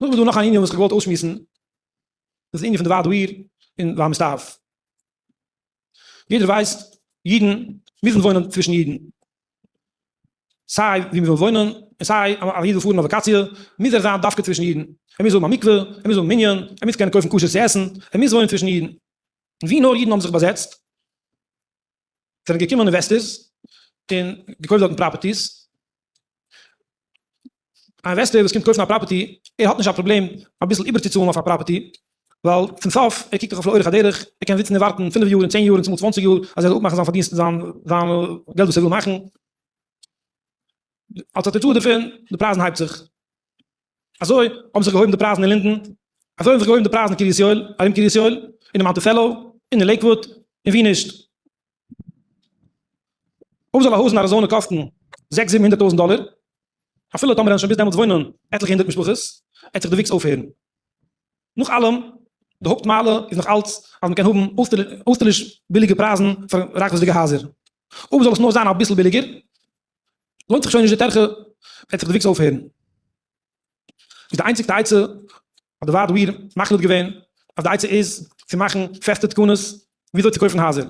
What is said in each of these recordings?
נאך איז דא נאך א ענין וואס איך האב געוואלט אויסשמועסן, דאס איז די ענין פון די ועד העיר און והמסתעף. יעדער ווייסט, אידן מוזן וואוינען צווישן אידן. סיי ווי מ'וויל וואוינען, און סיי אז א איד וויל פארן אויף וואקאציע, מוז ער זיין דווקא צווישן אידן. ער מוז האבן א מקווה, ער מוז האבן מנין, ער מוז קענען קויפן כשר צו עסן, ער מוז וואוינען צווישן אידן. און ווי נאר אידן האבן זיך באזעצט, זענען געקומען אינוועסטערס און געקויפט דארטן פראפערטיס, א אינוועסטער וואס קומט קויפן א פראפערטי ער האט נישט א פראבלעם אביסל איבערצוצאלן אויף א פראפערטי, ווייל צום סוף ער קוקט דאך אויף לאורך הדרך, ער קען זיצן און ווארטן פינף יאר און צען יאר און צומאל צוואנציג יאר אז ער זאל אפמאכן זיין פארדינסט זיין זיין געלט וואס ער וויל מאכן, אלס א תוצאה דערפון די פרייזן הייבט זיך. אזוי האבן זיך געהויבן די פרייזן אין לינדען, אזוי האבן זיך געהויבן די פרייזן אין קרית יואל, ארום קרית יואל, אינעם מאנטיסעלא, און אין לעיקוואוד, און ווי נישט. אויב זאל א הויז אין אריזאנע קאסטן זעקס זיבן הונדערט טויזנט דאלער, אפילו טאמער וועלן שוין ביז דעמאלטס וואוינען עטליכע הונדערט משפחות, וועט זיך די וויקס אויפהערן. נאך אלעם, די הויפט מעלה איז נאך אלץ אז מען קען האבן אויסטערליש ביליגע פרייזן פאר רייכוויזדיגע הייזער. אויב זאל עס נאר זיין אביסל ביליגער, לוינט זיך שוין נישט די טרחה, וועט זיך די וויקס אויפהערן. איז די איינציגסטע עצה האט די ועד העיר מחליט געווען אז די עצה איז צו מאכן פעסטע תקנות וויאזוי צו קויפן הייזער.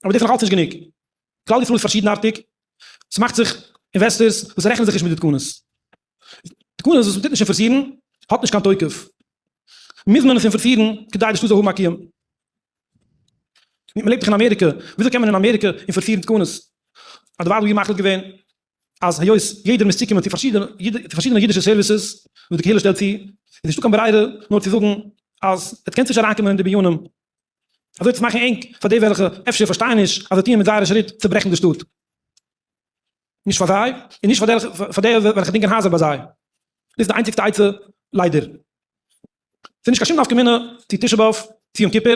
אבער דאס איז נאכאלץ נישט גענוג. כלל ישראל איז פארשידנארטיג, ס'מאכט זיך אינוועסטערס וואס רעכענען זיך נישט מיט די תקנות. תקנות וואס מ'טוט נישט אינפארסירן האט נישט קיין תוקף, מוז מען עס אינפארסירן כדי די שטאט זאל האבן א קיום. מ'לעבט דאך אין אמעריקע, וויאזוי קען מען אין אמעריקע אינפארסירן תקנות? אדערווייל וואלט מען מחליט געווען אז היות יעדער מוז צוקומען צו פארשידענע אידישע סערוויסעס וואס די קהילה שטעלט צו, איז נישטא קיין ברירה נאר צו זאגן אז עטס קענטס נישט אריינקומען אין די בנינים, אזוי צו מאכן ענג פאר די וועלכע אפשר פארשטייען נישט אז זיי טוען מיט זייערע שריט צעברעכן די שטאט. נישט פאר זיי און נישט פאר די וועלכע דינגען הייזער ביי זיי, דאס איז די איינציגסטע עצה ליידער. ס'איז נישט קיין שום נפקא מינה צו תשעה באב צו יום כיפור,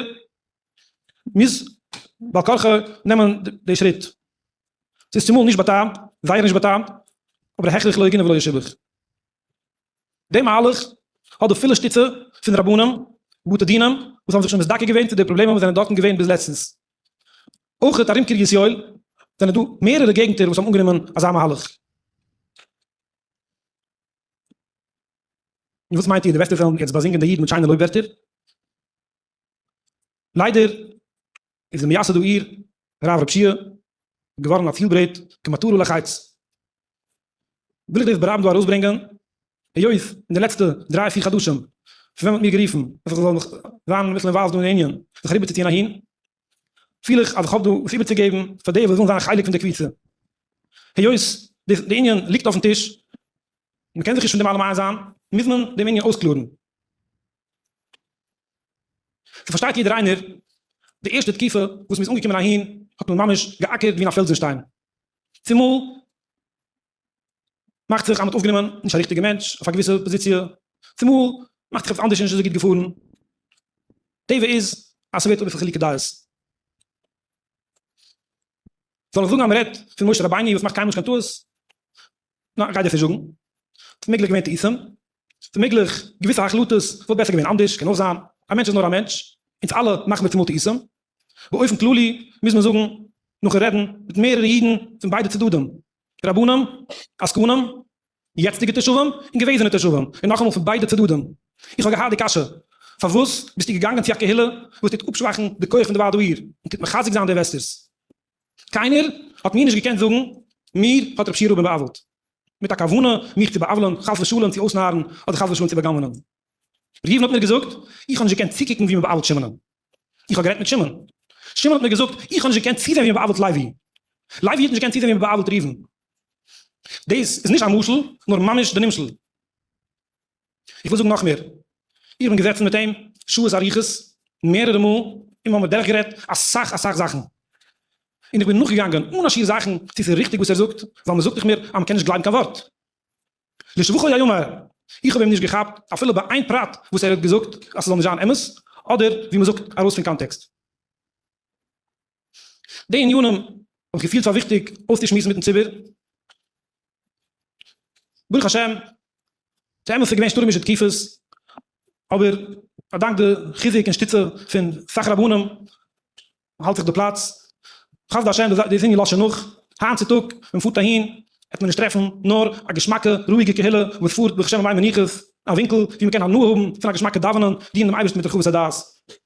מ'מוז בעל כרחו נעמען די שריט. ס'איז צומאל נישט בטעם, זייער נישט בטעם, אבער הכרח לא יגונה ולא ישובח. דעם מהלך האט די פילע שטיצע פון רבנים ובתי דינים וואס האבן זיך שוין מזדכה געווען צו די פראבלעמען וואס זענען דארטן געווען ביז לעצטנס. אויך ארום קרית יואל זענען דא מערערע געגנטער וואס האבן אנגענומען אזא מהלך. און וואס מיינט איר, די וועסט וועלן יעצט באזינגען די איד מיט שיינע לויב ווערטער? ליידער איז די מייסד העיר הרב ר' פשיהא געווארן א ציל-ברעט כמטרה לחיץ. וויל איך דאס ברבים דא ארויסברענגען, היות אין די לעצטע דריי פיר חדשים פון ווען מ'האט מיר גערופן אז איך זאל זיין אביסל אינוואלווד דא אין ענין זיך אריבערצוציען אהין, פיל איך אז איך האב דא וואס איבערצוגעבן פאר די וואס ווילן זיין חלק פון די קבוצה. היות די די ענין ליגט אויפן טיש, מ'קען זיך נישט פון דעם אלעם איינזען, מוז מען דעם ענין אויסקלארן. ס'פארשטייט יעדער איינער, די ערשטע תקופה וואס מ'איז אנגעקומען אהין האט מען ממש געאקערט ווי אין א פעלזן שטיין, צומאל מאכט זיך אז מ'האט אויפגענומען נישט א ריכטיגע מענטש אויף א געוויסע פאזיציע, צומאל מאכט זיך עפעס אנדערש נישט אזוי גוט געפארן, טבע איז אז ס'ווערט אביסל חילוקי דעות. זאל איך זאגן אז מען רעדט פון משה רבינו וואס מאכט קיינמאל נישט קיין טעות? ניין כ'גיי דיר נישט זאגן. ס'איז מעגליך געווען טעותים, ס'איז מעגליך געוויסע החלטות וואלט בעסער געווען אנדערש, קען אויך זיין, א מענטש איז נאר א מענטש, אונז אלע מאכן מיר צומאל טעותים. באופן כללי מוז מען זאגן, נאכן רעדן מיט מערערע אידן פון ביידע צדדים, רבנים, עסקנים, יעצטיגע תושבים און געוועזענע תושבים, און נאכאמאל פון ביידע צדדים. איך האב געהאט די קשיא, פארוואס ביסטו געגאנגען צו א קהילה וואס טוט אפשוואכן די כח פון די ועד העיר, און טוט מחזק זיין די אינוועסטערס? קיינער האט מיר נישט געקענט זאגן, מיר האט רב שירוב בא'עוול'ט, מיט א כוונה מיך צו בא'עוול'ן, חס ושלום צו אויסנארן, אדער חס ושלום צו בא'גנב'נען. ראובן האט מיר געזאגט, איך האב נישט געקענט צוקוקן ווי מען בא'עוול'ט שמעון'ען. איך האב גערעדט מיט שמעון. שמעון האט מיר געזאגט, איך האב נישט געקענט צוזען ווי מען בא'עוול'ט לייבי. לייבי האט נישט געקענט צוזען ווי מען בא'עוול'ט ראובן. דאס איז נישט א משל, נאר ממש די נמשל. איך וויל זאגן נאך מער, איך בין געזעצן מיט אים שעות אריכות מערערע מאל, און מיר האבן דורך גערעדט אסאך אסאך זאכן, און איך בין נאכגעגאנגען אן א שיעור זאכן צו ס'איז ריכטיג וואס ער זאגט, ווייל מ'זאגט איך מיר אז מ'קען נישט גלייבן קיין ווארט לשבחו ייאמר, איך האב אים נישט געכאפט אפילו ביי איין פרט וואס ער האט געזאגט אז ס'זאל נישט זיין אמת, אדער ווי מ'זאגט ארויס פון קאנטעקסט. די ענינים האב איך געפילט פאר וויכטיג אויסצושמועסן מיטן ציבור, ברוך השם ס'אמת ס'געווען שטורעמישע תקופות, אבער אדאנק די חיזוק און שטיצע פון סאך רבנים האלט זיך די פלאץ, חסדי השם די איז ענין לשם נח, היינט צו טאג ווען מ'פארט אהין עט מען נישט טרעפן נאר א געשמאקע רואיגע קהילה וואס פארט ברוך השם אליין מנוחות, א ווינקל ווי מ'קען הנאה האבן פון א געשמאקע דאווענען, דינען דעם אייבערשטן מיט רחבות הדעת.